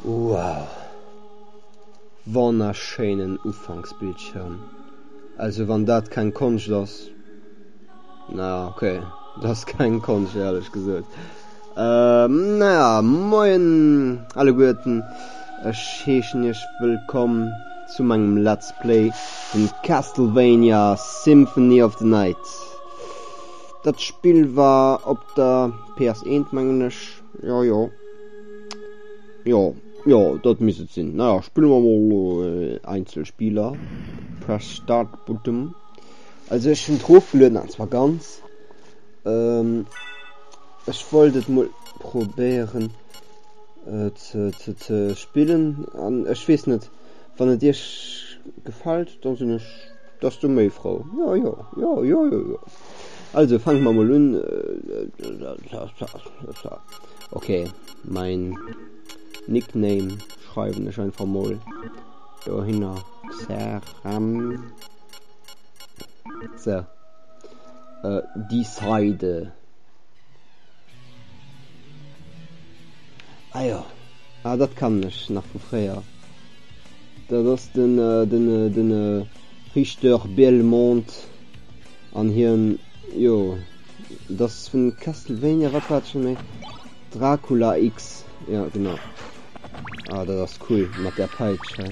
Wow! Wonnerschéinen Ufanksbildschirm! Also wann dat keng Konscht ass, na ja, ok, dat ass keng Konscht, éierlech gesot. Na ja, moien alleguerten, ech heeschen iech wëllkomm zu mengem Let's Play vun Castlevania Symphony of the Night. Dat Spill war op der PS eent mengen ech, jo jo. Jo jo dat misst et sinn. Naja spille mer mol äh, Einzelspieler. Press Start Button. Also ech hunn drofgelueden an zwar ganz. Ähm, ech wollt et mol probéieren äh, ze, ze, ze spillen an ech weess net, wann et Iech gefält, da sinn ech Bass du méi frou? Jo, jo, jo, jo, jo, jo. Also fanke mer mol un. Ok, mein Nickname schreiwen ech einfach mol dohinner Xaram. So. Äh, die Seide. Ah ja, ah, dat kann ech nach vu fréier. Dat ass den Richter Belmont an hien, jo, et ass vun Castlevania, wat war et scho méi? Dracula X, jo genau. Ah dat ass cool mat där Peitsch hei.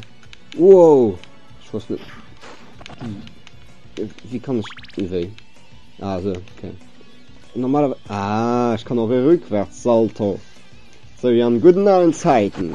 Wow! Ech wosst net. Wéi kann ech. Wéi? Ah, so, okay. Normalerweise. Ah, ich kann auch rückwärts Salto. So wie an guten alten Zeiten.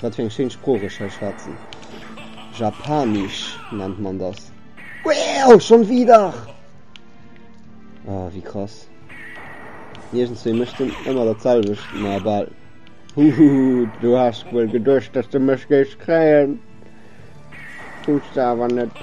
Wat fir eng schéin Sprooch ech hei schwätzen. Japanisch nennt man das. Wow, schon wieder! Oh, wéi krass. Iergendswéi mécht en ëmmer dat selwecht, ma bal. Huhu, du has wuel geduecht, dass de mech géifs kréien. Hues de awer net.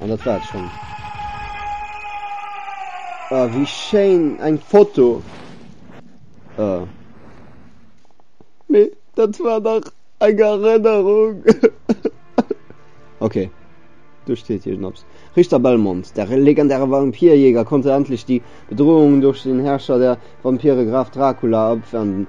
An dat war schon. Oh, wie schein eng Foto. Oh. Nee, dat war nach eng Erinnerung. okay. Du steht hier Schnaps. Richter Belmont, der legendäre Vampirjäger, konnte endlich die Bedrohung durch den Herrscher der Vampire Graf Dracula abwenden.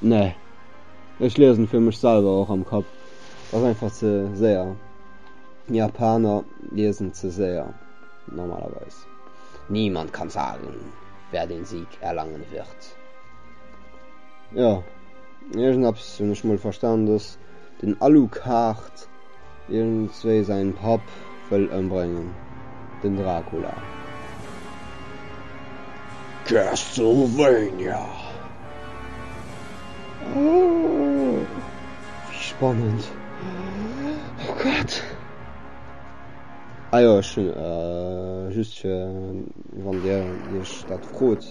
Nee, ech liesen fir mech selwer och am Kapp, ass einfach ze séier. Japaner liesen ze séier, normalerweis. Niemand kann sagen, wer den Sieg erlangen wird. Jo, iergendeppes hunn ech mol verstan, dass den Alucard Iergendwéi säin Papp wëll ëmbréngen, den Dracula. Castlevania! Ooh, wéi spannend! Oh Gott! Ah jo, ech hunn, just fir wann Dir Iech dat frot,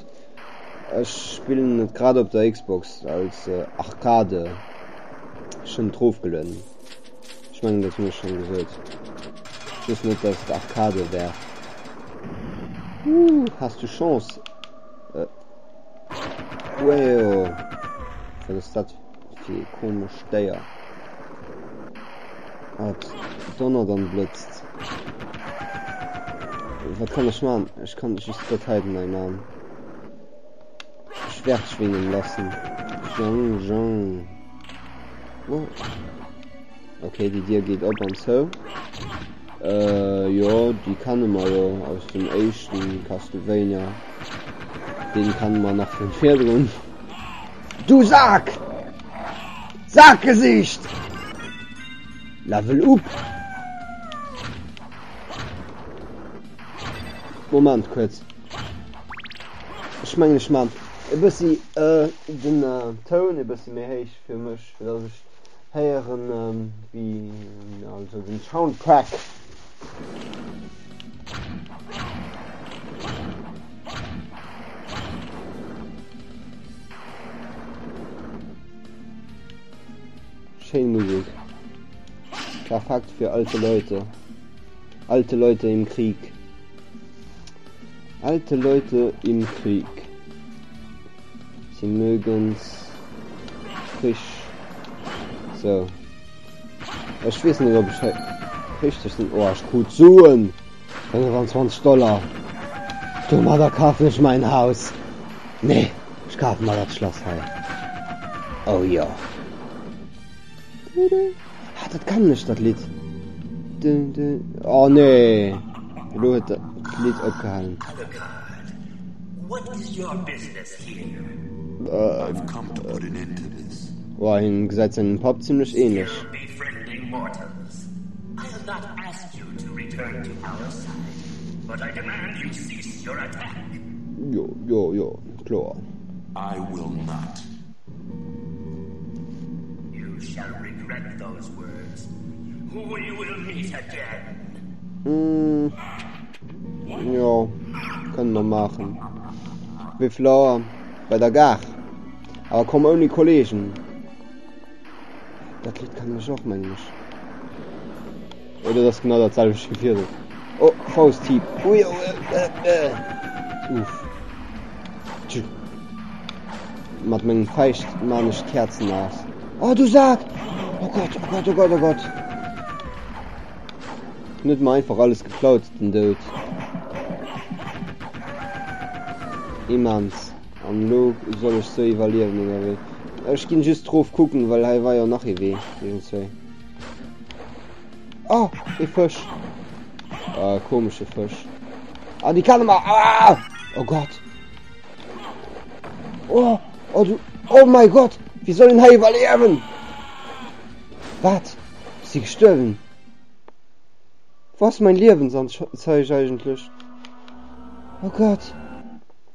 ech spillen et grad op der Xbox als Arcade, ech hunn et rofgelueden. Ech mengen dat hunn ech schon gesot. Ech wëss net dass et Arcade wär. Huuh has du Chance. Äh. Weo. Wat ass dat fir ee komesch Déier. Wat donnert an blëtzt. Wat kann ech man? Ech kann just dat heiden nei man. Schwert schwingen lassen. Jong Jong. Oh. Okay, die Dir geht op an zou. Äh, jo, die kann man jo aus dem éischten Castlevania. Den kann man nach vun virdrun. Du Sack! Sackgesicht! Level up! Moment kurz. Ech mengen ech man e bessi den Toun e bessi méi héich fir mech fir dass ech héieren wéi also den Soundtrack. Schéin Musik. Perfekt fir alte Leute. Alte Leute im Krieg. Alte Leute im Krieg. Sie mögen's frisch. So. Ech wees net op richtig den Ohrsch krut Suen 25 Dollar. Du mat der kaf nech mein Haus. Nee, ich kaf mal dat Schlass hei. Oh ja. Ah, dat kennen ech dat Lidd. Dun, dun. Oh nee. Elo huet dat Lidd opgehalen. Wow, him gesäit sengem Papp zimmlech ähnlech. Jo, jo, jo, kloer. Jo, kënnen mer maachen. Wéi vill Auer? Bei der Gare. Awer komm ouni Kolleegen. Dat Lidd kennen ech och, mengen ech. Jo dat ass genau dat selwecht wéi virdrun. Oh Fausthieb ui ouuuff uff tju mat mengen Fäischt maan ech d'Käerzen aus. Oh du Saak oh Gott oh Gott oh Gott oh Gott en huet mer einfach alles geklaut den Doud immens an lo soll ech se iwwerliewen oder wéi? Ech ginn just drof kucken well hei war jo nach ee Wee iwwenzwee. Oh, e Fësch. Äh, komesche Fësch. Ah, die kann mal. Ah! Oh Gott. Oh, oh du. Oh mein Gott. Wie soll denn hier überleben? Was? Ist sie gestorben? Was mein Leben sonst zeige eigentlich? Oh Gott.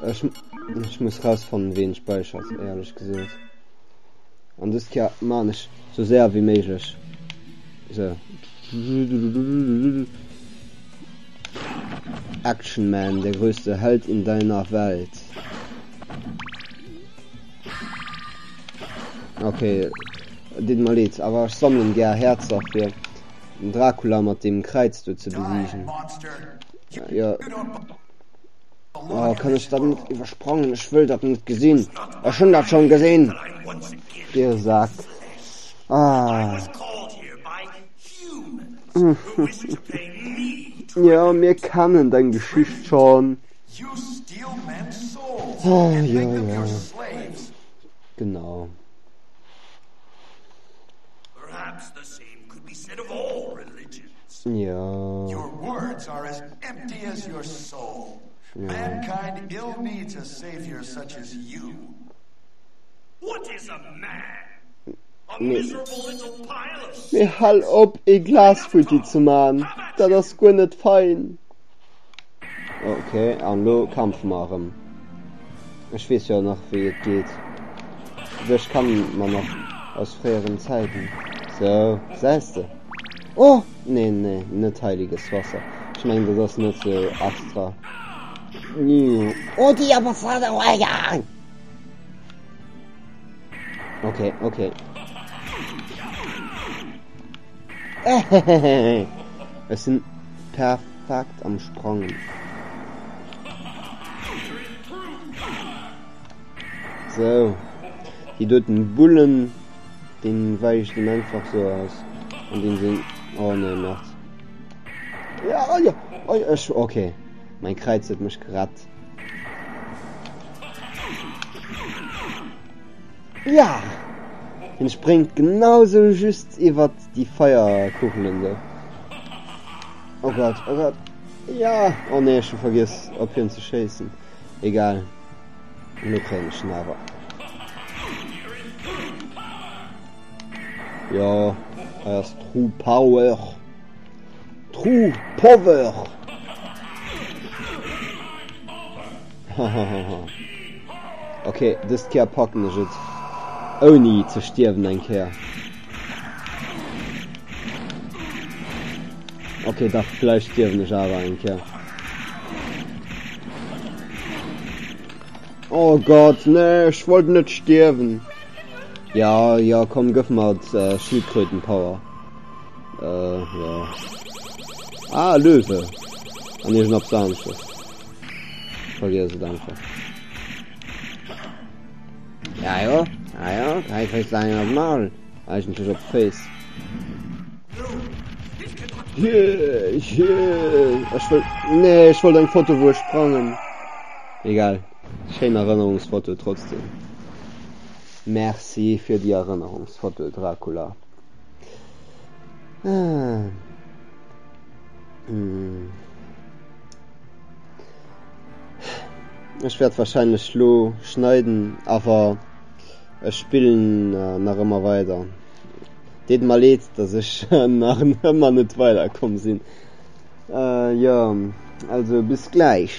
Ech muss rausfannen ween späichert eierlech gesoot an dest Keer maan ech sou séier wéi méiglech sou Action man der größte Held in deiner Welt ok deet mer leed awer ech sammeln gär Häerzer fir den Dracula mat deem Kräiz do ze besiegen jo. Oh, kann ich dat net iwwersprangen? Ech wëll dat net gesinn. Ech hunn dat schon gesinn. Dir Sack. Ah. ja, mir kennen deng Geschicht schon. Oh, ja, ja. Genau. Mee hal op ee Glas futti ze man, dat ass guer net fein. Ok, an lo kämpfe mer erëm. Ech weess jo nach wéi et geet. Dech kennen mer nach aus fréieren Zäiten. Sou, gesäis de? Oh! Nee, nee, net heiliges Wasser. Ech mengen dat ass net sou extra. Oh, déi awer fader Iwwergang! Okay, okay. Ech sinn perfekt am Sprangen. So. Hie doten Bullen. Deen weicht em einfach sou aus an deen seng oh nee merd ja ja oi ech ok mein Kräiz huet mech gerett ja hien spréngt genau sou just iwwert déi Feierkugelen do oh Gott oh Gott ja oh nee ech hu vergiess op hien ze schéissen egal. Mir tréinschen awer. Jo, hei ass True Power. True Power! Hahaha. Okay, dëst Kéier packen ech et ouni ze stierwen eng Kéier. Okay, dach, vläicht stierwen ech awer eng Kéier. Oh Gott, nee, ech wollt net stierwen. Ja, ja, komm, gëff mat äh, Schildkrötenpower. Äh, ja. Ah, Löwe. An irgend op Samstes. Vergiss es einfach. Ajo, ajo, hei kréis de eng an d'Maul, eigentlech op d'Féiss. Jee, jee, ech wëll, nee, ech wollt eng Foto, wou ech sprangen. Egal, schéin Erënnerungsfoto trotzdem. Merci fir déi Erënnerungsfoto, Dracula. Ah. Hm. Ech wärt wahrscheinlech lo schneiden awer ech spillen nach ëmmer weider. Deet mer leed dass ech nach ëmmer net weider komm sinn. Jo also bis gläich.